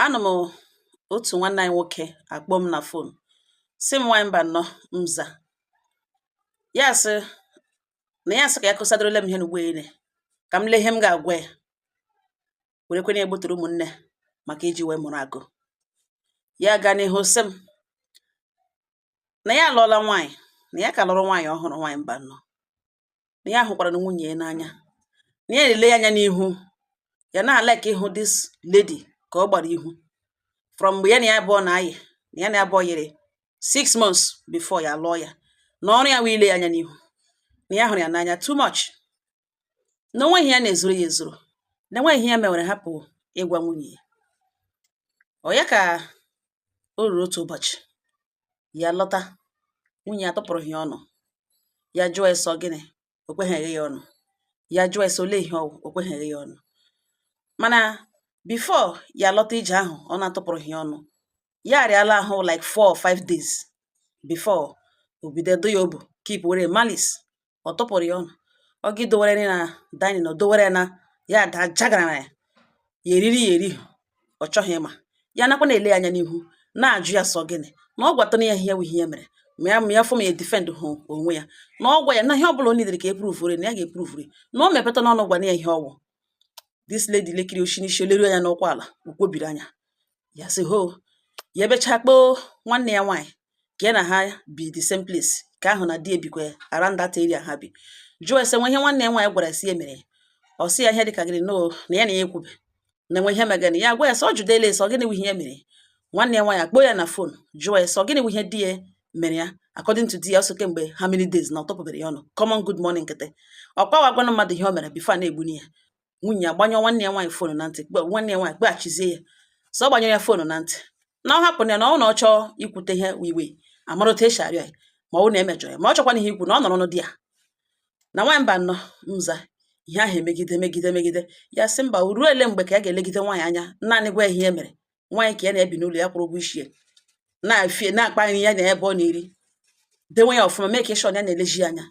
anọ m otu nwanne anyị nwoke akpọ m na fon sị m nwaanyị mba nnọọ m za ya sị na ya sị ka ya kụsadorola m ihe n'ugbo ele ka m lee ihe m ga-agwa ya werekwana ya gbutere ụmụnne maka iji wee mụrụ akọ ya gaa n'ihu sị m na ya alụọla nwaanyị na ya ka lụrụ nwaanyị ọhụrụ nwaanyị mba nnọọ na ya hụkwara na nwunye ya n'anya na ya na-ele ya anya n'ihu ya na-alike ihu this lady ka ọ gbara ihu from mgbe ya na ya abụọ na-ayị na ya na ya abụọ yiri six months before ya lụọ ya na ọrụ ya wụ ile ya anya n'ihu na ya hụrụ ya n'anya too much na o nweghị ya na-ezuru ya ezuru na enweghị ihe ya mewere hapụ ịgwa nwunye ya ọ ya ka O ruru otu ụbọchị, ya lọta, nwunye ya atụpụrụghị ya ọnụ. Ya jụọ ya sị ọ gịnị, o kweghịrị ya ọnụ. Ya jụọ ya sị ọ olee ihe ọ wụ, o kweghịrị ya ọnụ. Mana before ya lọta ije ahụ ọ na-atụpụrụ ya ọnụ, ya arịala ahụ like four or five days before o bido do ya obu keep were malice ọ tụpụrụ ya ọnụ ọ ga dowere nri na dining o dowere na ya ada jagara na ya ya eriri ya erihi ọ chọghị ịma ya nakwa na-ele ya anya n'ihu na-ajụ ya sị ọ gịnị na ọ gwatana ya ihe ihe ya mere ma ya ma ya fụ ma ya defend hụ onwe ya na ọ gwa ya na ihe ọ bụla o needere ka e provere na ya ga-eprovere na o mepetana ọnụ gwana ya ihe ọ wụ this lady lekiri o shi n'isi leru anya n'ụkwụ ala o kwobiri anya ya sị ho ya ebecha kpọọ nwanne ya nwaanyị ka ya na ha bi the same place ka ahụ na di ebikwe around that area ha bi jụọ ya sị o nwe ihe nwanne ya nwaanyị gwara sị ya mere ọ sị ya ihe dịka gịnị no na ya na ya ekwube na o nwe ihe megana ya gwa ya sị ọ jụdela ya sị ọ gịnị ihe mere nwanne ya nwaanyị akpọ ya na fon jụọ ya sị ọ gịnị ihe di ya mere ya according to di ya sị kemgbe how many days na ọ tụpụbere ya ọnụ common good morning nkịtị ọ kwa a gwana mmadụ ihe o mere before a na-egbuni ya nwunye ya gbanyụọ nwanne ya nwaanyị fonu na ntị kpe nwanne ya nwaanyị kpọghachizie ya sị ọ gbanyụrụ ya fonu na ntị na ọ hapụrụ ya na ọ na ọ chọọ ikwute ihe wiwe amara otu esi arịọ ya ma ọ na e mejọ ya ma ọ chọkwana ihe ikwu na ọ nọrọ ọnụ di ya na nwaanyị mba nnọọ m za ihe ahụ emegide megide megide ya sị mba ruo ele mgbe ka ya ga-elegide nwaanyị anya naanị gwa ya ihe e mere nwaanyị ka ya na-ebi n'ụlọ ya kwụrụ ụgwọ isi ya na-afie na-akpa nri ya na ebe ọ na-eri dewe ya ọfụma mee ka ịshọn ya na-eleji ya anya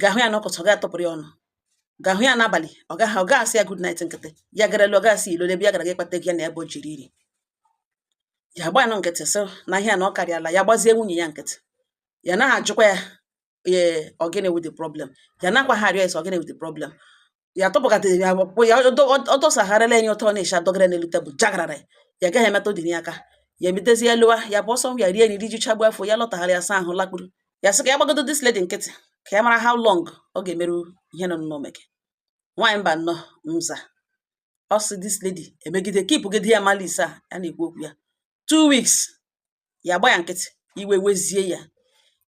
ga-ahụ ya n'ụbọchị ọ ga-atụpụrụ ya ọnụ ga-ahụ ya n'abalị ọ gaghị ọ gaghị asị ya good night nkịtị ya garala ọ gaghị asị ị lọ ebe ya gara ga ịkpata gị ya na ebe o jiri iri ya gba ya nkịtị sị na ihe na ọ karịala ya gbazie nwunye ya nkịtị ya naghị ajụkwa ya ee ọ gịnị wụ the problem ya nakwa ha arịọ ya sị ọ gịnị wụ the problem ya tọpụgatara ya kpụ ya ọ dọsagharịla enye ụtọ na-echa dọgara n'elu tebụl jagarara ya gaghị emetụ dị ya aka ya emetezi ya lụwa ya bụ ọsọ ya rie nri ji chagbu afọ ya lọtagharị ya saa ahụ lakpuru ya sị ka ya gbagodo this lady nkịtị ka ya mara how long ọ ga-emeru ihe nọ n'ụlọ meke nwaanyị mba nnọọ mza ọ sị this lady emegide kipụgide ya malice a ya na-ekwu okwu ya two weeks ya agba ya nkịtị iwe wezie ya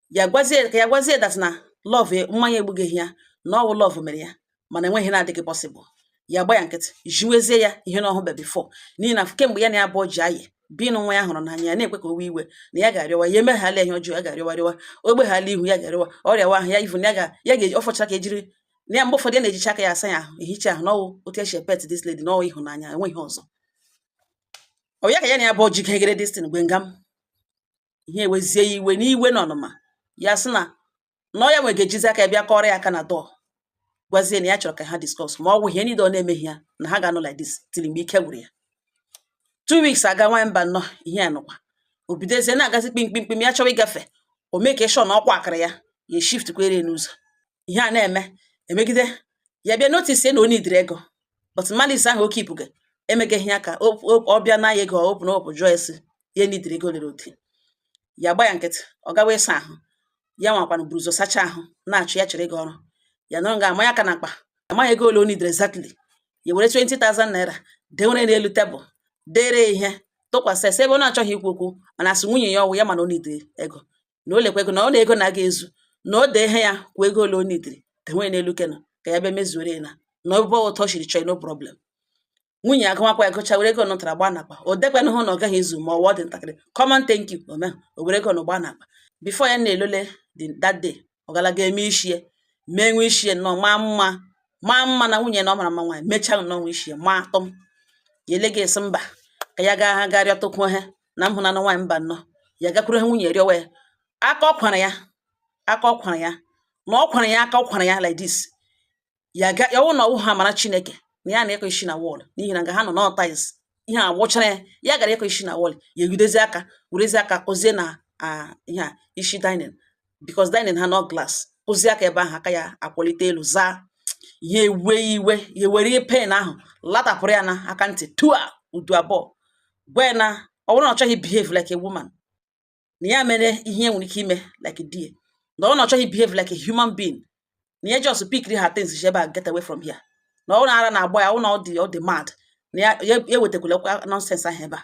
ya gwazie that na love e, mmanya egbughị ya na ọ wụ love mere ya mana e nweghị ihe na-adịghị possible ya gba ya nkịtị jiwezie ya ihe na ọhụbe before n'ihi na kemgbe ya na ya abụọ ji ayi binu nwa ya hụrụ n'anya ya na-ekwe ka o wee iwe na ya ga-arịọwa ya emeghala ihe ọjọọ ya ga-arịọwa ogbeghala ihu ya ga-arịọwa ọ rịawa ahụ ya ivu ya ga-eji ọfọcha ka ejiri na ya mgbe ụfọdụ ya na-ejicha aka ya asa ya ahụ ehicha ahụ na ọ wụ otu e si epet this lady na ọ wụ ịhụnanya enweghị ọzọ ọ ya ka ya na ya abụọ ji kegere this thing gwe nga m ihe ewezie ya iwe n'iwe na ọnụma ya sị na na ọ ya nwa ga-ejizi aka ya bịa kụọrọ ya aka na door gwazie na ya chọrọ ka ha discuss ma ọ wụ ihe niile ọ na-emeghị ya na ha ga-anọ like this till mgbe ike gwụrụ ya two weeks agaa nwaanyị mba nnọọ ihe a nọkwa o bidozie na-agazi kpimkpimkpim ya chọwa ịgafe o mee ka ị sị na ọkwa akara ya ya shift kwere n'ụzọ ihe a na-eme emegide ya bịa notice na o nidiri ego but malice ahụ ọ kipụga emegeghị ya ka o- o- ọ bịa na ya ego ọ open up jụọ sị ya nidiri ego lere oti ya gba ya nkịtị ọ gawa ịsa ahụ ya nwakwanụ buru ụzọ sachaa ahụ na-achọ ya chere gị ọrụ ya nọrọ nga a manye aka n'akpa amaghị ego ole o nidiri exactly ya were 20,000 naira dewere n'elu tebụl dere ihe tụkwasị sị ebe ọ na-achọghị ikwu okwu mana asị nwunye ya ọ wụ ya ma na o nidiri ego na o lekwa ego na ọ na ego na aga ezu na o dee ihe ya kwuo ego ole o nidiri dewe n'elu kena ka ya bịa mezuoro ya na na ọ bụ otu o shiri chọọ no problem nwunye agụmakwa ya gụcha were ego nụtara gba n'akpa o dekwana hụ na ọ gaghị ezu ma ọ wụdị ntakịrị common thank you ome o were ego nụ gba n'akpa before ya na-alọla that day ọ galaga eme ishie mee nwe ishie nnọọ maa mma maa mma na nwunye na ọ mara mma nwaanyị mechaa nnọọ nwe ishie maa atọm ya elee ya sị mba ka ya ga rịọtụkwuo ha na m hụnanụ nwaanyị mba nnọọ ya gakwuru ya nwunye rịọwa ya aka ọ kwara ya aka ọ kwara ya na ọ kwara ya aka ọ kwara ya like this ya ga ya wụ na ọ wụghị amara chineke na ya na-akụ isi na wall n'ihi na nga ha nọ na tiles ihe a wụchara ya ya gara ịkụ isi na wall ya egidezie aka werezi aka kụzie na a ihe a isi dining because dining ha nọ glass kụzie aka ebe ahụ aka ya akwalite elu zaa ya ewe iwe ya were iwe pain ahụ latapụrụ ya na aka ntị tua udu abụọ gwa ya na ọ bụrụ na ọ chọghị behave like a woman na ya mere ihe nwere ike ime like die na ọ na ọ chọghị behave like a human being na ya just pikiri her things ebe a get away from here na ọ ara na-agba ya ọ na ọ dị ọ dị mad na ya ewetakwala nonsense ahụ ebe a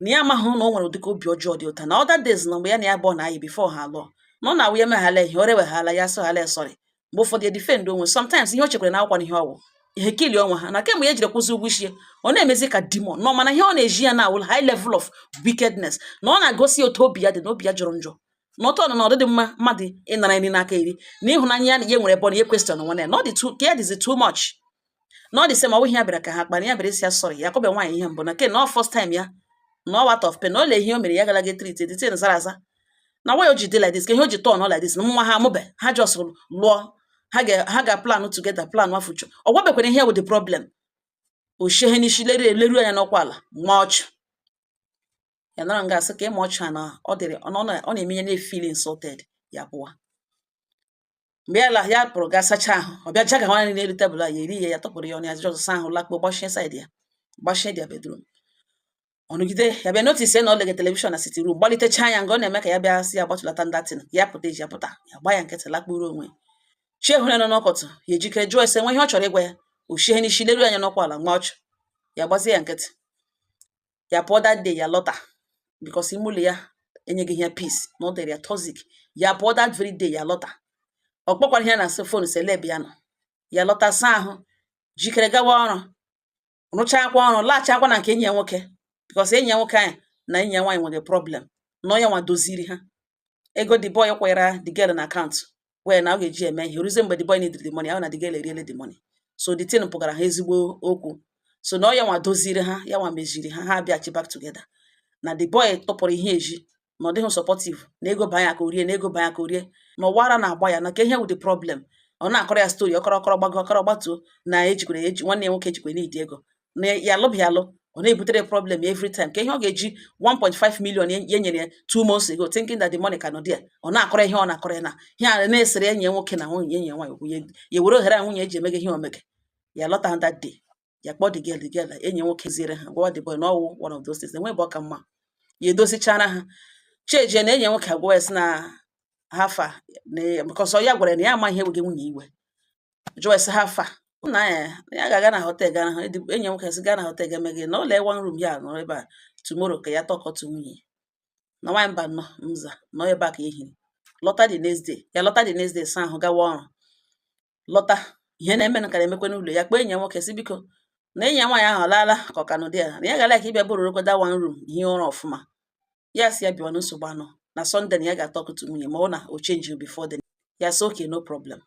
na ya amaghị na o nwere ụdịka obi ọjọọ dị otu a na other days na mgbe ya na ya bụ ọ na-ayị before ha alụọ na ọ na-awụ ya meghala ihe o reweghala ya sịghala sorry mgbe ụfọdụ defend onwe sometimes ihe o chekwara na akwụkwọ na ihe ọ wụ ihe kili onwe ha na kemgbe ya jiri kwụzie ụgwọ isi ọ na-emezi ka demon nọ mana ihe ọ na-eji ya na-awụla high level of wickedness na ọ na-agosi otu obi ya dị na obi ya jọrọ njọ na ọtọ nọ na ọ dịghị mma mmadụ ịnara nri n'aka iri na ịhụnanya ya na ya nwere ebe ọ na ihe kwesịrị na nwanne ya na ọ dị too care is too much na ọ the same ọ wụ ihe ya bịara ka ha kpara ya bịara ịsị ya sorry ya akụbe nwaanyị ihe mbụ nke a na ọ first time ya na ọ wụ out of pain na olee ihe o mere ya gara ga treat the thing zara aza na why o ji dị like this ka ihe o ji turn like this na nwa ha amụbe ha just lụọ ha ga ha ga plan together plan a future ọ gwabekwara ihe wụ the problem o shie ya n'isi leruo ya anya n'ụkwụ ala maa ọchụ ya nara nga asị ka ịma ọchụ a na ọ dịrị ọ na- ọ na-eme ya na-efeel insulted ya pụwa mgbe ya la ya pụrụ gaa sachaa ahụ ọ bịa jaga nwa nri n'elu tebụl a ya eri ya ya tụpụrụ ya ọnụ ya just saa ahụ lakpuo gbachie side ya gbachie their bedroom ọ nọgide ya bịa notice na ọ lege telivishọn na sitting room gbalitechaa ya nga ọ na-eme ka ya bịa sị ya gbatụlata that thing ya pụta eji ya pụta ya gba ya nkịtị lakpuru onwe ya chi ehụrụ ya n'ụtụtụ ya ejikere jụọ ya sị nwe ihe ọ chọrọ ịgwa ya o shie n'isi leruo anya n'ụkwụ ala maa ọchụ ya gbazie ya nkịtị ya pụọ that day ya lọta because ime ụlọ ya enyeghị ya peace na ọ dịrị ya toxic ya pụọ that very day ya lọta ọ kpọkwara ya na asị phone sị olee ebe ya nọ ya lọta saa ahụ jikere gawa ọrụ rụchakwa ọrụ laghachikwa na nke enyi ya nwoke because enyi ya nwoke anyị na enyi ya nwaanyị nwere problem na ọ ya nwa doziri ha ego the boy kwara the girl na account wee na ọ ga-eji eme ihe ruzie mgbe the boy needed the money ahụ na the girl eriele the money so the thing pụgara ha ezigbo okwu so na ọ ya nwa doziri ha ya nwa meziri ha ha abịachi back together na the boy tụpụrụ ya ezi na ọ dịghị supportive na ego banye ya aka o rie na ego banye ya aka o rie na ọ wụrụ na a gwa ya na ka ihe wụ the problem ọ na-akọrọ ya story ọ kọrọ ọ kọrọ gbago ọ kọrọ gbatuo na ejikwere eji nwanne ya nwoke ejikwe need ego na ya alụbe ya alụ ọ na-ebutere problem every time ka ihe ọ ga-eji 1.5 million ya nyere ya two months ago thinking that the money ka nọ there ọ na-akọrọ ihe ọ na-akọrọ ya na ihe a na-esere enyi ya nwoke na nwunye enyi ya nwaanyị okwu ya were ohere a nwunye ya ji emega ihe o mega ya lọta ha that day ya kpọọ the girl the girl enyi ya nwoke ziere ha gwawa the boy na ọ wụ one of those things enwe bụ ọ ka mma ya edozichara ha cheje na enyi ya nwoke agwa ya sị na how far na ya gwara na ya ama ihe wega nwunye ya iwe jụọ ya sị how far na ya ya ga-aga na hotel ga ahụ enyi ya nwoke sị gaa na hotel ga mee gịnị na ụlọ one room ya nọ ebe a tomorrow ka ya talk to nwunye na nwaanyị mba nọ mza nọ ebe a ka ehiri lọta the next day ya lọta the next day saa ahụ gawa ọrụ lọta ihe na-eme na ka na-emekwa n'ụlọ ya kpọọ enyi ya nwoke sị biko na enyi ya nwaanyị ahụ laala ka ọ ka nọ there na ya gara ka ịbịa borrow kwa the one room hie ụra ọfụma ya si ya bịawa na nsogbu anọ na sunday na ya ga-atalk to nwunye ma ọ na o change before then ya si okay no problem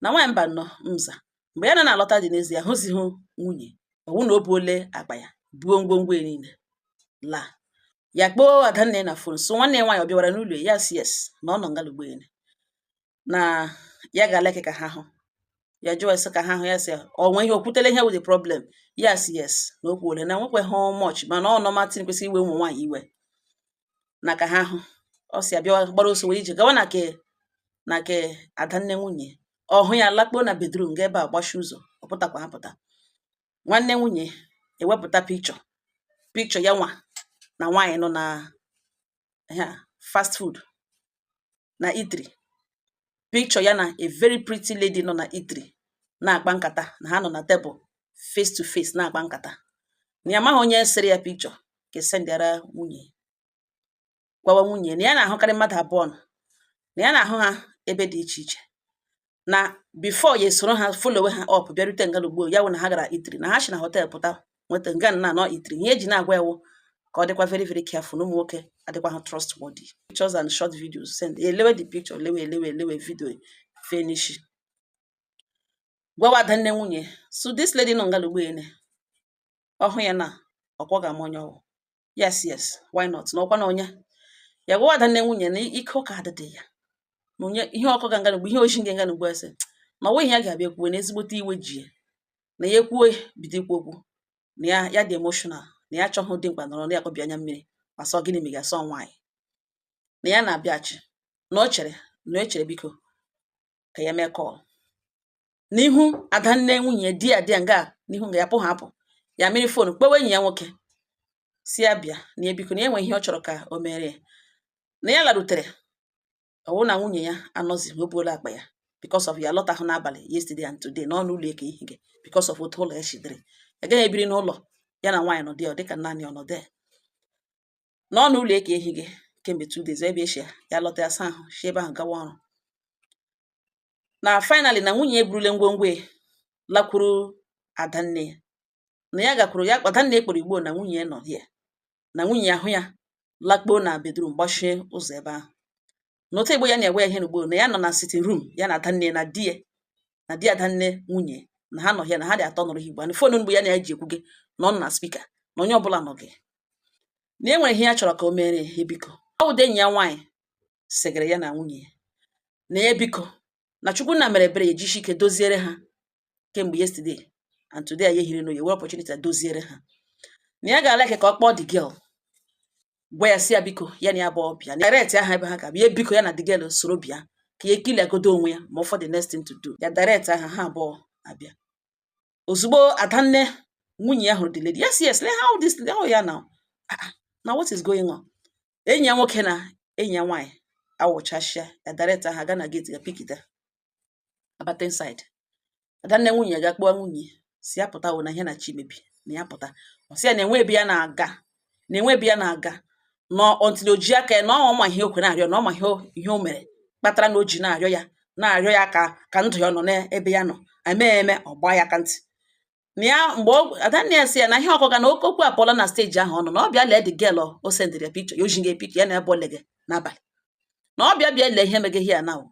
na nwaanyị mba nọ mza mgbe ya na na-alọta dị n'ezie ya ahụzighị nwunye ọ wụ na o buole akpa ya buo ngwongwo ya niile laa ya kpọọ adanne na fon so nwanne ya nwaanyị ọ bịawara n'ụlọ ya si yes na ọ nọ ngalugbo ene na ya ga-aleke ka ha hụ ya jụọ ese ka ha hụ ya si ọ nwe ihe o kwutele ihe wụ the problem ya si yes na o kwuole na nwekwe ha much mana ọ normal thing kwesịrị iwe ụmụ nwaanyị iwe na ka ha hụ ọ si ya bịa gbara ọsọ were ije gawa na nke na nke adanne nwunye ọ hụ ya lakpuo na bedroom ga ebe a gbachi ụzọ ọ pụtakwa apụta nwanne nwunye ewepụta picture picture ya nwa na nwaanyị nọ na fast food na eatery picture ya na a very pretty lady nọ na eatery na-akpa nkata na ha nọ na table face to face na-akpa nkata na ya amaghị onye sere ya picture ka e sendịara nwunye gwawa nwunye na ya na-ahụkarị mmadụ abụọ nọ na ya na-ahụ ha ebe dị iche iche na before ya esoro ha followe ha up bịarute nga n'ugbo ya wụ na ha gara eatery na ha si na hotel pụta nweta nga na nọ eatery ihe e ji na-agwa ya wụ ka ọ dịkwa very very careful na ụmụ nwoke adịkwa ha trustworthy pictures and short videos send elewe the picture lewe elewe elewe video finish gwawa adanne nwunye so this lady nọ nga n'ugbo ene ọ hụ ya na ọkwa ọ ga-ama onye ọ wụ yes yes why not na ọkwa na onye ya gwawa adanne nwunye na ike ụka adịdị ya na onye ihe ọkụ ga nganugbu ihe ochi nganga nugbu ese na o nweghị ya ga-abịa kwuwe na ezigbote iwe ji ya na ya ekwuwe bido ikwu okwu na ya ya dị emotional na ya achọghị dimkpa nọrọ na ya kọbi anya mmiri ma sọ gịnị ma ị ga-asọ nwaanyị na ya na-abịachi na o chere na o chere biko ka ya mee call n'ihu adanne nwunye di ya di ya nga n'ihu nga ya pụ ha apụ ya were fon kpọwa enyi ya nwoke si ya bịa na ya biko na ya nwe ihe ọ chọrọ ka o mere ya na ya larutere ọ wụ na nwunye ya anọzi o buola akpa ya because of ya lọtahụ n'abalị yesterday and today n'ọnụ ụlọ eke ihe gị because of otu ụlọ ya chidere ya gaghị ebiri n'ụlọ ya na nwaanyị nọdụ ya dịka naanị ọnọdụ ya n'ọnụ ụlọ eke ihe gị kemgbe two days ebe echi ya lọta ya saa ahụ si ebe ahụ gawa ọrụ na finally na nwunye eburule ngwongwo ya lakwuru adanne ya na ya gakwuru ya adanne kpọrọ igbo na nwunye ya nọ ya na nwunye ya ahụ ya lakpuo na bedroom gbachie ụzọ ebe ahụ na otu igbo ya na-ewe ya ihe n'ugbo na ya nọ na sitting room ya na adanne na di ya na di adanne nwunye na ha nọ ya na ha dị atọ nọrọ ha igbo na fon mgbe ya na ya ji ekwu gị na ọ nọ na speaker na onye ọbụla nọ gị na e nwere ihe ya chọrọ ka o mere ya biko ọ wụdị enyi ya nwaanyị sịgara ya na nwunye ya na ya biko na chukwu nna mere ebere ya ejishi ike doziere ha kemgbe yesterday and today anyị ehiri n'oye were opportunity doziere ha na ya ga-ala ka ọ kpọọ the girl gwa ya sị ya biko ya na ya abụọ bịa na direct-a ha ebe ha ga-abịa biko ya na the girl soro bịa ka ya ekiliagodo onwe ya ma for the next thing to do ya direct-a ha ha abụọ abịa ozugbo adanne nwunye ya hụrụ the lady yes yes let how this how ya now ah, ah, na what is going on enyi ya nwoke na enyi ya nwaanyị awụchasịa ya direct-a ha ga na gate ga pikita abata inside adanne nwunye ya ga kpọọ nwunye sị ya pụta o na ihe na-achọ imebi na ya pụta ọ sị ya na enwe ebe ya na-aga na enwe ebe ya na-aga na until o ji aka ya na ọ ma ihe o kwere na-arịọ na ọ ma ihe o- ihe o mere kpatara na o ji na-arịọ ya na-arịọ ya ka ka ndụ ya nọ n'ebe ya nọ eme ya eme ọ gbaa ya aka ntị na ya mgbe ọ- adanne ya sị ya na ihe ọ kọga na oke okwu apụọla na stage ahụ ọ nọ na ọ bịa lee the girl o sendịrị ya picture ya o ji gị picture ya na ebe ole gị n'abalị na ọ bịa bịa lee ihe meghe ihe ya na o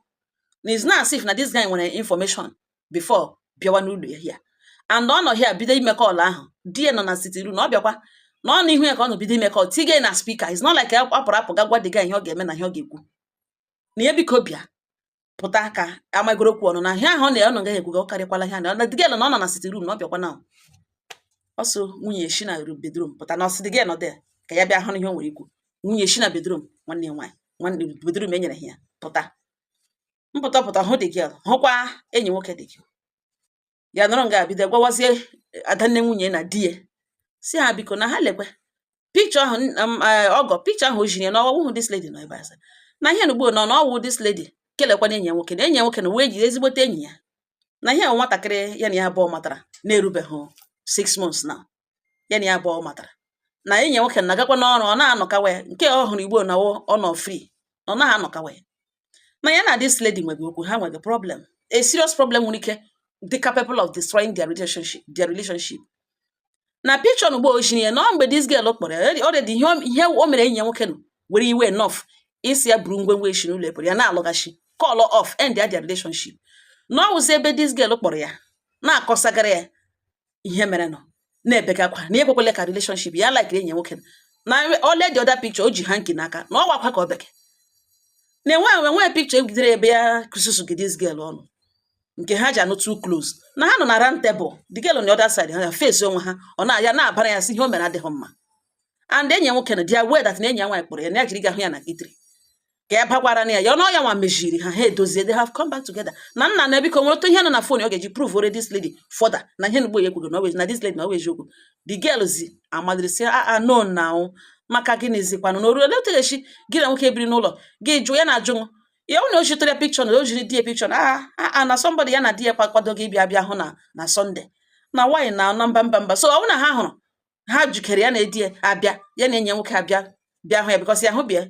na it's not as if na this guy nwere information before bịawa n'ụlọ here and ọ nọ here bido ime call ahụ di ya nọ na sitting room na ọ bịakwa na ọ n'ihu ya ka ọ nọ bido ime call tige na speaker it's not like apụrụ apụ ga gwa the guy ihe ọ ga-eme na ihe ọ ga-ekwu na ya biko bịa pụta ka amagoro okwu ọnụ na ihe ahụ ọ na-ọ nọ gaghị ekwuga ọ karịkwala ihe na the girl na ọ nọ na sitting room na ọ bịakwa na ọsọ nwunye shi na bedroom pụta na ọ sị the girl nọ there ka ya bịa hụ ihe o nwere ikwu nwunye shi na bedroom nwanne ya nwaanyị nwanne bedroom e nyere ha ya pụta pụta pụta hụ the girl hụkwa enyi nwoke the girl ya nọrọ nga bido gwawazie adanne nwunye na di ya sị ha biko na ha lekwe picture ahụ um, eh, ọgọ picture ahụ o jiri ya na ọ wụ this lady nọ ebe a na ihe nugbo nọ na ọ wụ this lady kelekwa na enyi ya nwoke na enyi ya nwoke na wee jiri ezigbote enyi ya na ihe nwatakịrị ya na ya abụọ matara na-erubeghị six months na ya na ya abụọ matara na enyi nwoke na-agakwa n'ọrụ ọ na-anọkawa ya nke ọ hụrụ ugbo na ọ nọ free na ọ naghị anọkawa ya na ya na this lady nwere okwu ha nwere problem a serious problem nwere ike dị capable of destroying their relationship their relationship na picture na ugbo o jiri ya na ọ mgbe this girl kpọrọ ya already ihe o mere enyi ya nwoke nọ were iwe enough ịsị ya buru ngwongwo ya shi n'ụlọ ebere ya na-alọghachi call off end their relationship na ọ wụzi ebe this girl kpọrọ ya na-akọsagara ya ihe merenụ na-ebega akwa na ekwekwele ka relationship ya like enyi nwoke na o lee the other picture o ji hanky n'aka na ọ wụ akwa ka ọ bege na enwe enwe nwee picture e jidere ebe ya ka susughe this girl ọnụ nke ha ji anọ too close na ha nọ na round table the girl on the other side ha ya face onwe ha ọ na ya na-abara ya sị ihe o mere adịghị mma and enyi nwoke na dị aware that na enyi ya nwaanyị kpọrọ ya na ya jiri ga hụ ya na eatery ka ya bakwara na ya ya ọnụ ya nwa mejiri ha ha edozie they have come back together na nna na biko nwere otu ihe nọ na phone ọ ga-eji prove ore this lady further na ihe nugbo ya ekwugo na na this lady na ọ wụ eziokwu the girl zi immediately sị a ah, ah, no now ọ maka gịnị zikwanụ na oru olee otu ga-esi gị na nwoke biri n'ụlọ gị jụ ya na ajụ m ya na o jitere picture na o jiri di ya picture na a ah, a na somebody ya na di ya kwakwado gị bịa bịa hụ na na Sunday na nwaanyị na na mba mba mba so ọ na ha hụrụ ha jikere ya na di ya abịa ya na enyi nwoke abịa bịa hụ ya because ya hụ bịa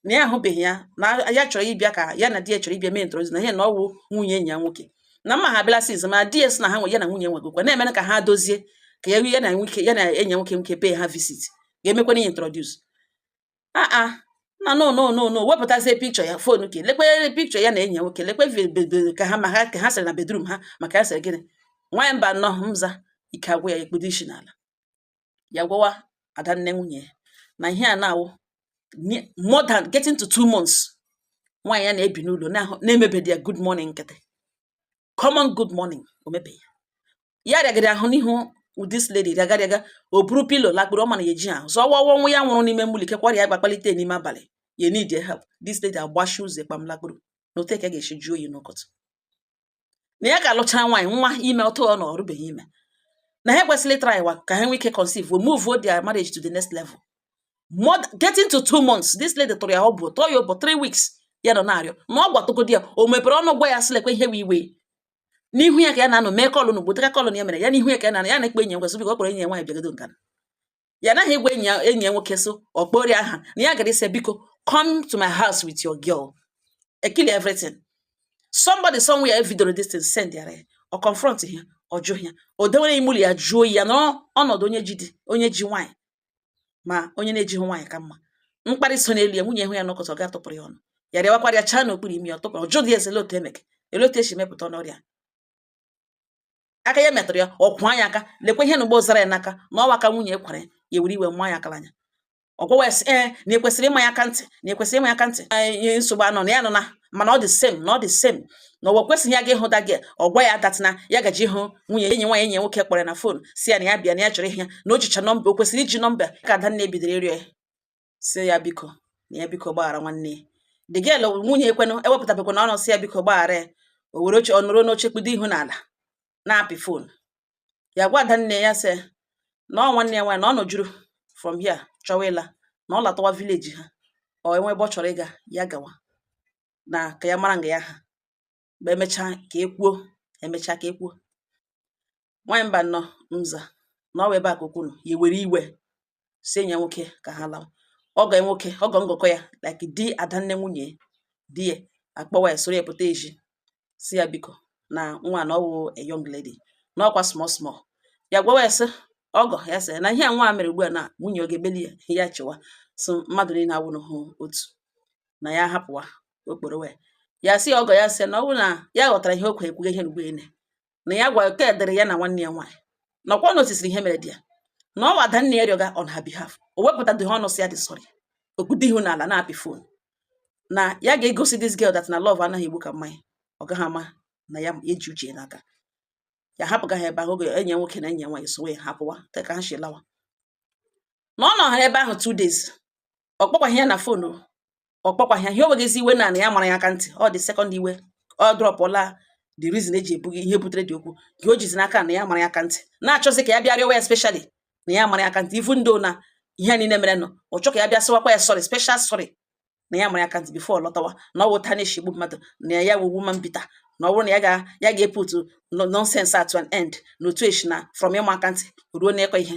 na ya ahụbeghị ya na ya chọrọ ịbịa ka ya na di ya chọrọ ịbịa mee introduce na ihe na ọ wụ nwunye enyi ya nwoke na mma ha abịala since ma di ya sị na ha nwe ya na nwunye nwegokwa na-emere ka ha dozie ka ya ya na nwoke ya na enyi nwoke nwoke pay ha visit ga-emekwa ihe introduce aa ah, ah. na no no no no wepụtazie picture ya phone ke lekwe picture ya na enyi ya nwoke lekwe ka ha ma ha ka ha sere na bedroom ha maka ya sịrị gịnị nwaanyị mba nnọọ mza ike agwụ ya ekpudo isi n'ala ya gwawa Adanne nwunye ya na ihe a na-awụ more than getting to two months nwaanyị ya na-ebi n'ụlọ na-emebedi ya good morning nkịtị common good morning o mebeghị ya ya rịagịrị ahụ n'ihu this lady rịagarịaga o buru pillow lakpuru ọ mana ya eji ahụ zọwa ọwa nwa ya nwụrụ n'ime ụlọ kekwara ya gbakpalite n'ime abalị ya need help this lady agbashi ụzọ kpam lakpuru na otu eke ga-esi jụọ oyi n'ụtụtụ na ya ka alụchara nwaanyị nwa ime ọtụ ọ na ọ rụbeghị ime na ha ekwesịrị ịtrywa ka ha nwee ike conceive wee move their marriage to the next level more getting to two months this lady tụrụ ya ọ bụ tọọ ya ụbọ three weeks ya nọ na-arịọ na ọ gwatụgodi ya o mepere ọnụ gwa ya sị lekwa ihe wee iwe n'ihu ya ka ya na-anọ mee call n'ugbo teka call ya mere ya n'ihu ya ka ya na-anọ ya na-ekpe enyi ya nwoke sị biko ọ kpọrọ enyi ya nwaanyị bịagodo nka ya naghị egwa enyi ya enyi ya nwoke so ọ kpọrọ aha na ya gara ịsị biko come to my house with your girl ekili everything somebody somewhere videoro this thing send ya ọ confront ya ọ jụ ya o dewere ime ụlọ ya jụọ ya na ọnọdụ onye ji di onye ji nwaanyị ma onye na-ejighị nwaanyị ka mma mkparị so n'elu ya nwunye hụ ya n'ụtụtụ ga tụpụrụ ya ọnụ ya rịawakwara ya chaa n'okpuru imi ya ọ tụpụrụ ọjụ dị ezele otu emeke olee otu e si mepụta n'ọrịa aka ya metụrụ ya ọkwụ anya aka lekwa ihe na ugbo zara ya n'aka na ọ wụ aka nwunye kwara ya ya were iwe maa ya akara anya ọ gwawa ya sị ee eh, na ekwesịrị ịma ya aka ntị na ekwesịrị ịma ya aka ntị ihe nsogbu anọ na ya nọ na mana all the same na all the same na ọ wụkwesịghị ya ga ịhụ da gị ọ gwa ya that na ya gaji ịhụ nwunye enyi nwaanyị enyi nwoke kpọrọ na phone sị ya na ya bịa na ya chọrọ ịhụ ya na o jicha number o kwesịrị iji number ka Adanne bidoro ịrịọ ya sị ya biko na ya biko gbaghara nwanne ya the girl nwunye ekwenụ ewepụtabekwana ọnụ sị ya biko gbaghara ya o were oche ọ nọrọ n'oche kpudo ihu n'ala na-apị phone ya gwa Adanne ya sị na ọ nwanne ya nwaanyị na ọ nọjuru from here chọwa ịla na ọ latawa village ha or e nwee ebe ọ chọrọ ịga ya gawa na ka ya mara nga ya ha mgbe emecha ka ekwuo emecha ka ekwuo nwaanyị mba nọ mza na ọ wụ ebe a ka okwu nọ ya were iwe sị enyi ya nwoke ka ha lawa ọgọ nwoke ọgọ ngọkọ ya like di adanne nwunye di ya akpọwa ya soro ya pụta ezi sị ya biko na nwa na ọ wụ a young lady na ọkwa small small ya gwawa ya sị ọgọ ya sị na ihe a nwa mere ugbu a na nwunye ọ ga-ebeli ya ya chịwa so mmadụ niile awụghị otu na ya hapụwa okporo wee ya sị ọgọ ya sị na ọ bụrụ na ya ghọtara ihe okwe ekwughị ihe mgbe ele na ya gwa ka edere ya na nwanne ya nwaanyị na ọkwa notisiri ihe mere di ya na ọ wụ adanne ya rịọga on her behalf o wepụta dị ọnụ sị ya dị sorry o kpudo ihu n'ala na-apị fon na ya ga-egosi this girl that na love anaghị egbu ka mmanya ọ gaghị ama na ya eji uche n'aka ya hapụga ha ebe ahụ oge enyi ya nwoke na enyi ya nwaanyị sowe ya hapụwa ka ha si lawa na ọ nọ ha ebe ahụ two days ọ kpọkwaghị ya na fon ọ kpọkwaghị ya ihe o weghịzi iwe na ya mara ya aka ntị ọ the second iwe ọ drọpụla the reason eji ebughị ihe butere the okwu ka o jizi n'aka na ya mara ya aka ntị na-achọzi ka ya bịa rịọwa ya specially na ya mara ya aka ntị even though na ihe niile mere nọ ọ chọ ka ya bịa sịwakwa ya sorry special sorry na ya mara ya aka ntị before ọ lọtawa na ọ wụ otu a na-eshi egbu mmadụ na ya wụ woman beater na ọ bụrụ na ya ga ya ga-eputu nonsense at an end na otu e shi na from ịma aka ntị ruo n'ịkụ ihe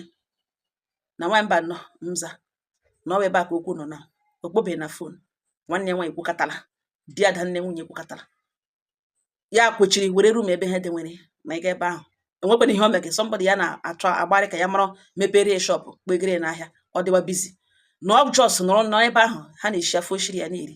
na nwaanyị mba nọ mza na ọ wụ ebe a ka okwu nọ na ọ kpọbeghị ya na fon nwanne ya nwaanyị kwukatala di adanne nwunye kwukatala ya kwechiri were rum ebe ha dị nwere ma ị ga ebe ahụ enwekwana ihe o mege somebody ya na-achọ agbarị ka ya mara mepere shop kpegere n'ahịa ọ dịwa busy na ọ just nọrọ n'ebe ahụ ha na-eshi afọ oshiri ya na-eri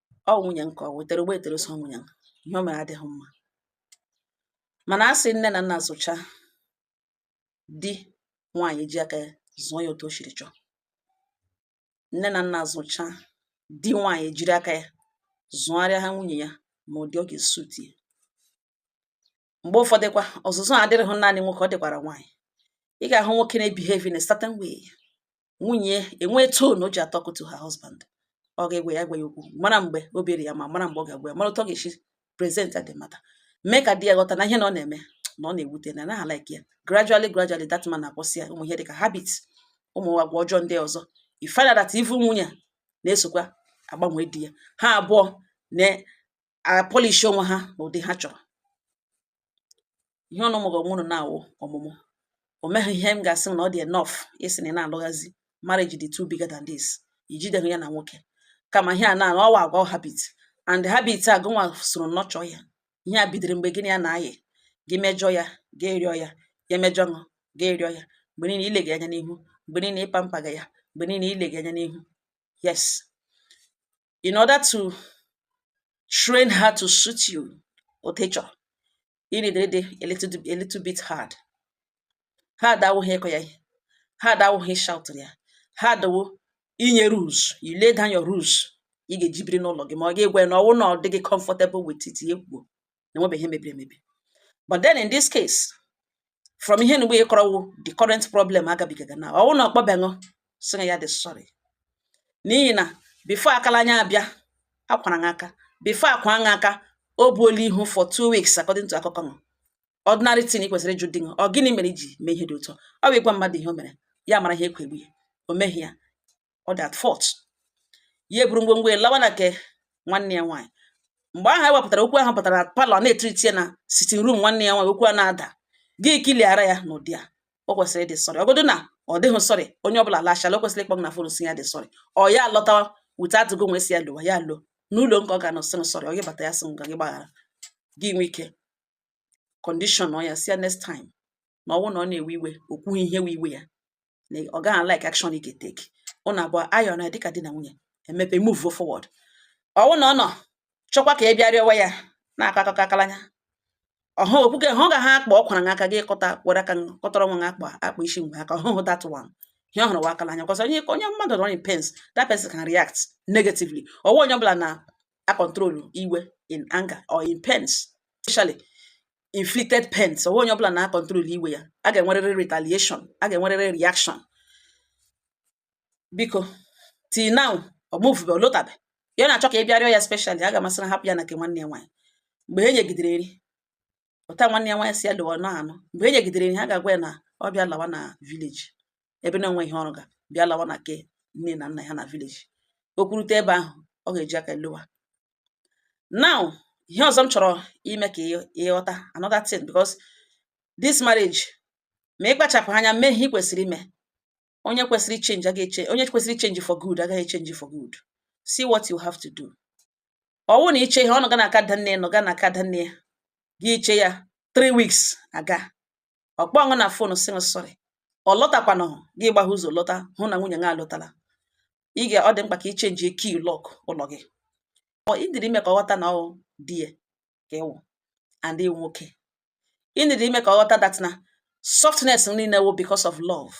ọ nwunye nke ọ wetara ụgbọ etere so nwunye ihe o mere adịghị mma mana a sị nne na nna zụcha di nwaanyị ji aka ya zụọ ya otu o siri chọọ nne na nna zụcha di nwaanyị jiri aka ya zụgharịa ha nwunye ya ma ụdị ọ ga-esuti ya mgbe ụfọdụkwa ọzụzụ a adịrịghị naanị nwoke ọ dịkwara nwaanyị ị ga-ahụ nwoke na-ebehave in a certain way nwunye enwee tone o ji atọkụ to her husband ọ ga-agwa ya gwa ya okwu mara mgbe obi dị ya mma mara mgbe ọ ga-agwa ya mara otu ọ ga-esi present the matter mee ka di ya ghọta na ihe na ọ na-eme na ọ na-ewute na anaghị like ya gradually gradually that man na-akwụsị ya ụmụ ihe dịka habit ụmụ agwa ọjọọ ndị ọzọ you find out that even nwunye na-esokwa agbanwe di ya ha abụọ apolish onwe ha n'ụdị ha chọrọ ihe ọnụ mụrụ ọmụrụ na-awụ ọmụmụ o meghị ihe m ga-asị na ọ dị enough ịsị na ị na-alụghazi marriage dị too bigger than this i jideghị ya na nwoke kama ihe a na ọ wụ agwa habit and habit a gụnwa soro nurture ya ihe a bidoro mgbe gị na ya na-ayị gị mejọ ya gị rịọ ya ya mejọ ṅụ gị rịọ ya mgbe niile i lege ya anya n'ihu mgbe niile ị pampaga ya mgbe niile i lege ya anya n'ihu yes in order to train her to suit you otu ị chọrọ ị nidịrị ịdị a little bit hard hard awụghị ịkọ ya ihe hard awụghị ịshout ya hard wụ inye rules you lay down your rules ị ga-eji biri n'ụlọ gị ma ọ ga-egwe na ọwụ na ọ dịghị comfortable with it ya kwuo na enwebeghị ihe mebiri emebi but then in this case from ihe nugbu ị kọrọ wụ the current problem agabigaga na ọwụ na ọ kpọbeghị sị ya dị sorry n'ihi na before aka la anya abịa akwara ṅa aka before a kwa ṅa aka o buola ihu for two weeks according to akụkọ ṅụ ordinary thing kwesịrị ịjụ di ṅa ọ gịnị mere i ji mee ihe dị otu a ọ bụ ịgwa mmadụ ihe o mere ya mara ihe e kwo egbu ya o meghị ya ọ dị at fault ya eburu ngwongwo ya lawa na nke nwanne ya nwaanyị mgbe ahụ e wepụtara okwu ahụ pụtara na parlour n'etiriti ya na sitting room nwanne ya nwaanyị okwu a na-ada gị kiliara ya n'ụdị a o kwesịrị ịdị sorry ọ godu na ọ dịghị sorry onye ọbụla lachala o kwesịrị ịkpọ ṅụ na phone sị ya dị sorry ọ ya lọtawa without gị nwa sị ya lọwa ya lọ n'ụlọ nke ọ ga-anọ sị ṅụ sorry ọ gị bata ya sị m ga gị gbaghara gị nwe ike condition ọ ya sị ya next time na ọwụ na ọ na-ewe iwe o kwughị ihe wụ iwe ya na ọ gaghị like action ị ga-eteki unu abụọ ayọ na dịka di na nwunye emepe move forward ọwụ na ọ na-achọkwa ka ị bịa rịọwa ya na-akọ akụkọ aka la anya ahụ okwuke hụ ga ha akpa ọ kwara aka gị kọta were aka kọtara nwa akpa akpa isi mgbe aka ọhụhụ that one ihe ọ hụrụ wụ aka la anya cos onye onye mmadụ nọ in pains that person can react negatively ọ wụghị onye ọbụla na-acontrol iwe in anger or in pains especially inflicted pains ọ wụghị onye ọbụla na-acontrol iwe ya a ga-enwerịrị retaliation a ga-enwerịrị reaction biko till now ọ movube ọ lọtabe ya na-achọ ka ị bịa rịọ ya specially aga m asị ṅụ hapụ ya na nke nwanne ya nwaanyị mgbe e nyegidere nri ụta nwanne ya nwaanyị sị ya lọwa na anụ mgbe e nyegidere nri ha ga-agwa ya na ọ bịa lawa na village ebe na o nweghị ihe ọ rụga bịa lawa na nke nne na nna ya na village o kwurute ebe ahụ ọ ga-eji aka lọwa now ihe ọzọ m chọrọ ime ka ị ghọta another thing because this marriage ma ị kpachapụ anya mee ihe ị kwesịrị ime onye kwesịrị change agaghị change onye kwesịrị change for good agaghị change for good see what you have to do ọwụ na i chee ya ọ nọga na nke adanne nọga na nke adanne ya gị chee ya three weeks aga ọ kpọọ ṅụ na phone sị ṅụ sorry ọ lọtakwana gị gbaghe ụzọ lọta hụ na nwunye ṅa alọtala ị ga ọ dị mkpa ka ị chenji key lock ụlọ gị ị nidịrị ime ka ọ ghọta na ọ di ya ka ị wụ and ị wụ nwoke ị nidịrị ime ka ọ ghọta that na softness niile wụ because of love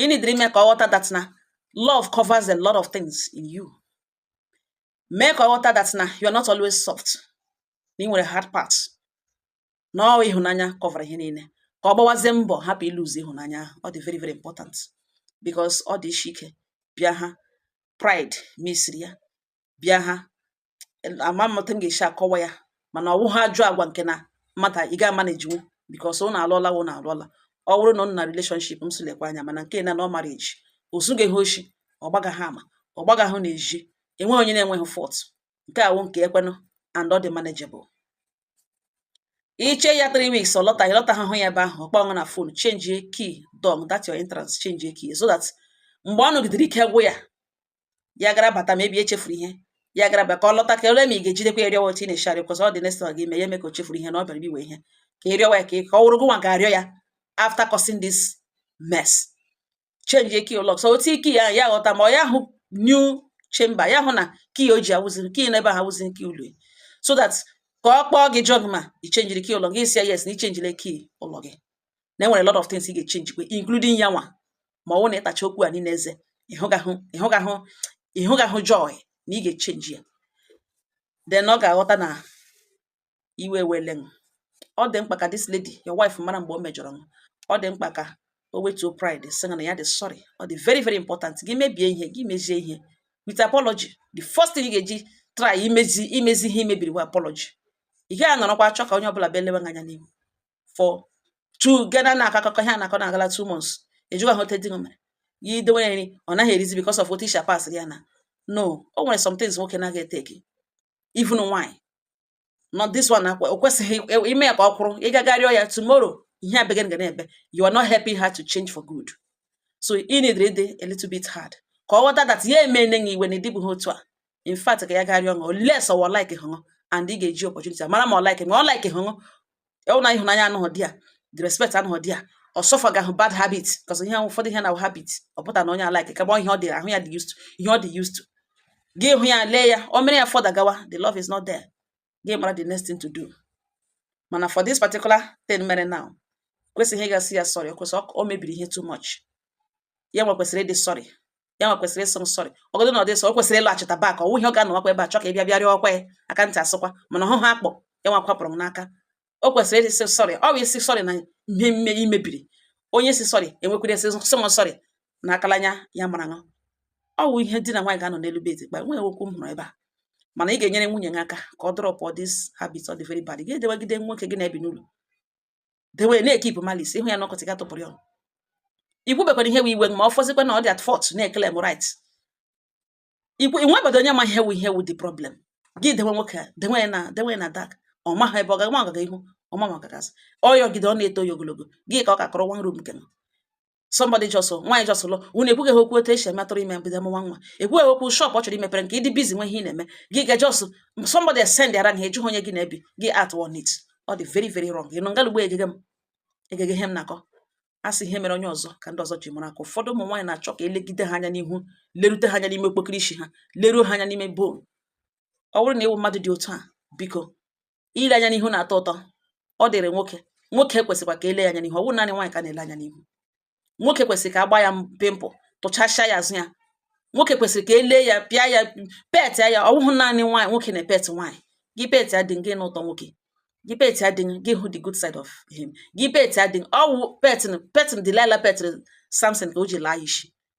ị nidịrị ime ka ọ ghọta that na love covers a lot of things in you mee ka ọ ghọta that na you are not always soft na ị nwere hard part na ọ ịhụnanya covera ihe niile ka ọ gbawazie mbọ hapụ ịlụzi ịhụnanya ahụ ọ dị very very important because ọ dị isi ike bịa ha pride misiri ya bịa ha ama m otu m ga-esi akọwa ya mana ọ wụha ajọ agwa nke na mmadụ ị ga-amanagenwu because ụnụ alụọla ụnụ alụọla ọ bụrụ na ụnụ na relationship m sị lekwa anya mana nke na ọ marriage o zughị ha oshi ọ gbagaha ama ọ gbagaha n'ezi enweghị onye na-enweghị fault nke a wụ nke ekwenụ and ọ dị manageable i che ya 3 weeks ọ lọta ị lọta ahụhụ ya ebe ahụ ọ kpọọ ṅụ na phone change key dị na that your entrance change key so that mgbe ọ nọgidere ike gwụ ya ya gara bata maybe echefuru ihe ya gara bata ka ọ lọta ka o lee ma ị ga-ejidekwa ya rịọwa otu ị na-eshi arịọ because ọ dị next gị ime ya eme ka o chefuru ihe na ọ bịara iwe ihe ka ị rịọwa ya ka ọ wụrụ gụ nwa ga-arịọ ya after causing this mess change key ụlọ so otu key ya ya ghọta ma ọ ya hụ new chamber ya hụ na key o ji awụziri key n'ebe ahụ awụzi key ụlọ so that ka ọ kpọọ gị jụọ ṅụ ma i chenjiri key ụlọ gị sị ya yes na i chenjiri key ụlọ gị na enwere lot of things ị ga-echenji kwa including ya nwa ma ọ na ị tacha okwu a niile eze ị hụgahụ joy na ị ga-echenji ya then ọ ga-aghọta na iwe wele ṅụ ọ dị mkpa ka this lady your wife mara mgbe o mejọrọ ṅụ ọ dị mkpa ka o wetuo pride sị na ya dị sorry ọ dị very very important gị mebie ihe gị mezie ihe with apology the first thing ị ga-eji try imezi ihe i mebiri bụ apology ị gaghị anọrọkwa achọ ka onye ọbụla bịa lewe anya n'ihu for two gana na-akọ akụkọ ihe a na-akọ na-agala two months ajụwaha otu di mere ya idowe nri ọ naghị erizi because of otu i shi a pass ya na no o nwere some things nwoke na-aga eteki even nwaanyị not this one akwa o kwesịghị e, ime ya ka ọ kwụrụ ị gaga rịọ ya tomorrow ihe a begin ga na-ebe you are not helping her to change for good so ị needịrị ịdị a little bit hard ka ọ ghọta that ya eme enye iwe na ị dịbụghị otu a in fact ka ya ga rịọ ṅụ unless ọ wa ọ likehụ ṅụ and ị ga-eji opportunity mara ma ọ like ma ọ likehụ ṅụ ọ wụ na ịhụnanya anọghị there the respect anọghị there ọ suffergahụ bad habit cos ihe ụfọdụ ihe na habit ọ pụta na onye a like kagba ihe ọ dị ahụ ya dị used to ihe ọ dị used to gị hụ ya lee ya o mere ya further gawa the love is not there gị mara the next thing to do mana for this particular thing mere now kwesịghị ịga sị ya sorry because o mebiri ihe too much ya nwa kwesịrị ịdị sorry ya nwa kwesịrị ịsị ṅụ sorry ọgọdụ na ọ dị so o kwesịrị ịlọghachita back ọ wụghị ọ ga-anọwakwa ebe a chọ ka ị bịa bịa rịọkwa ya aka ntị asịkwa mana ọhụhụ akpọ ya nwa kwapụrụ m n'aka o kwesịrị ịsị sorry ọ bụ ịsị sorry na ihe mme i mebiri onye sị sorry enwekwara esi sị sorry na akalanya ya mara ṅụ ọ wụ ihe di na nwaanyị ga-anọ n'elu bed kpa nwee okwu m hụrụ ebe a mana ị ga-enyere nwunye gị aka ka ọ dropụ this habit ọ dị very bad gị edewagide nwoke gị na-ebi n'ụlọ dewe na-ekipụ malice ịhụ ya na ọkọtị ga tụpụrụ ya ikwubekwara ihe bụ iwe ma ọ fọzikwa na ọ dị at fault na-eklem right ikwu inwebedo onye ma ihe wu ihe wu the problem gị dewe nwoke a dewe ya na dewe ya na dark ọ maghị ebe ọ ga ma ọ gaga ihu ọ ma ma ọ gaga azụ ọ yọgide ọ na-eto ya ogologo gị ka ọ ka kọrọ one room nke m somebody just nwaanyị just lụ unu ekwughị ha okwu otu esi emetụrụ ime mbido mụwa nwa ekwughị okwu shop ọ chọrọ imepere nke ịdị busy nwee ihe ị na-eme gị ga just somebody send ara ha ejughị onye gị na-ebi gị at one it ọ dị very very wrong ị nọ ngala ugbu egege m egege ihe m na-akọ a sị ihe mere onye ọzọ ka ndị ọzọ ji mara akọ ụfọdụ ụmụ nwaanyị na-achọ ka elegide ha anya n'ihu lerute ha anya n'ime okpokiri isi ha leruo ha anya n'ime bone ọ bụrụ na ị wụ mmadụ dị otu a biko ile anya n'ihu na-atọ ụtọ ọ dịrị nwoke nwoke kwesịkwa ka e lee ya anya n'ihu ọ bụghị naanị nwaanyị ka na-ele anya n'ihu nwoke kwesịrị ka a gbaa ya pimple tụchasịa ya azụ ya nwoke kwesịrị ka e lee ya pịa ya pet ya ọ bụghị naanị nwaanyị nwoke na pet nwaanyị gị pet ya dị gị n'ụtọ nwoke gị pet ya dị gị hụ the good side of him gị pet ya dị ọ wụ pet pet Delilah pet Samson ka o ji laa ya isi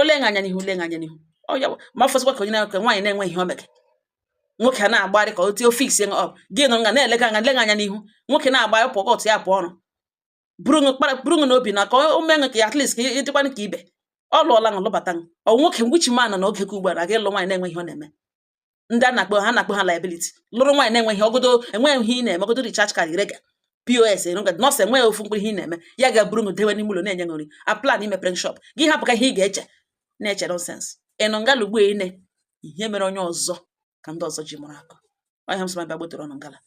ole anya anya n'ihu ole anya anya n'ihu ọ ya ma fọzikwa ka onye na-enwe nwaanyị na-enwe ihe o mege nwoke a na-agbarị ka otu ọ fix ṅụ up gị nọ nga na-elega anya lega anya n'ihu nwoke na-agbarị pụọ ọtụ ya pụọ ọrụ buru ṅụ kpara buru ṅụ n'obi na ka o mee ṅụ ka ya at least ka ị dịkwanụ ka ibe ọ lụọla ṅụ lụbata ṅụ ọ nwoke which man n'oge ka ugbu a na-aga ịlụ nwaanyị na-enwe ihe ọ na-eme ndị a na-akpọ ha na-akpọ ha liability lụrụ nwaanyị na-enweghị ọgodo enweghị ihe ị na-eme ọgodo recharge card rega POS erụga nọọsụ enweghị ofu mkpụrụ ihe ị na-eme ya ga-eburu dewe n'ime ụlọ na-enye nri a plan imepere shop gị hapụ ka ihe ị ga-eche na-eche nonsense ị nọ ngala ugbu ine ihe mere onye ọzọ ka ndị ọzọ ji mụrụ akọ ọ ya m sị ma bịa gbotere unu ngala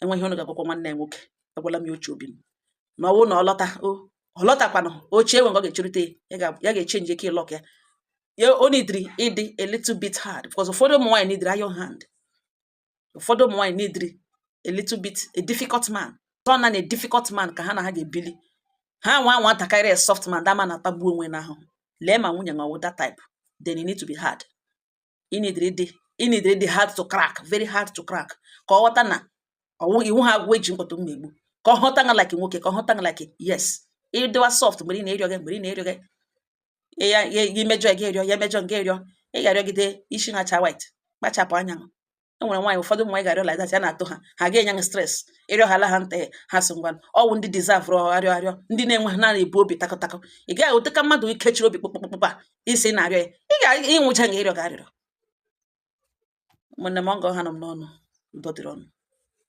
enweghị onye ga-agwakwa nwanne ya nwoke agwala m ya uche obi m na ọ wụ na ọ lọta o ọ lọtakwanụ oche enwe ọ ga-echerute ya ga-echenji key ịlọk ya ya o nidiri ịdị a little bit hard because ụfọdụ ụmụ nwaanyị nidiri iron hand ụfọdụ ụmụ nwaanyị nidiri a little bit a difficult man tọ na na a difficult man ka ha na ha ga-ebili ha nwa nwa ntakịrị a soft man the man na-atagbu onwe n'ahụhụ lee ma nwunye nwa wụ that type then you need to be hard ị nidiri ịdị ị nidiri ịdị hard to crack very hard to crack ka ọ ghọta na ọ wụ ị wụha agwọ e ji mkpọtụ mma egbu ka ọ hụta nga like nwoke ka ọ hụta nga like yes ị dịwa soft mgbe ị na-erịọ gị mgbe ị na-erịọ gị ya ya emejọ gị erịọ ya emejọ gị erịọ ị ga-arịọgide isi na-acha white kpachapụ anya e nwere nwaanyị ụfọdụ ụmụ nwaanyị ị ga-arịọ like that ya na-atọ ha ha ga-enye ha stress ịrịọ ha ala ha nta ha sị ngwa ọ wụ ndị dizavụrụ arịọ arịọ ndị na-enwe ha na-ebu obi takọtakọ ị gaghị ote ka mmadụ ikechiri obi kpụkpụkpụkpa isi na-arịọ ya ị ga ịnwụcha nga ịrịọ ga arịrịọ ụmụnne m ọgọ ha nọ m n'ọnụ udo dịrị unu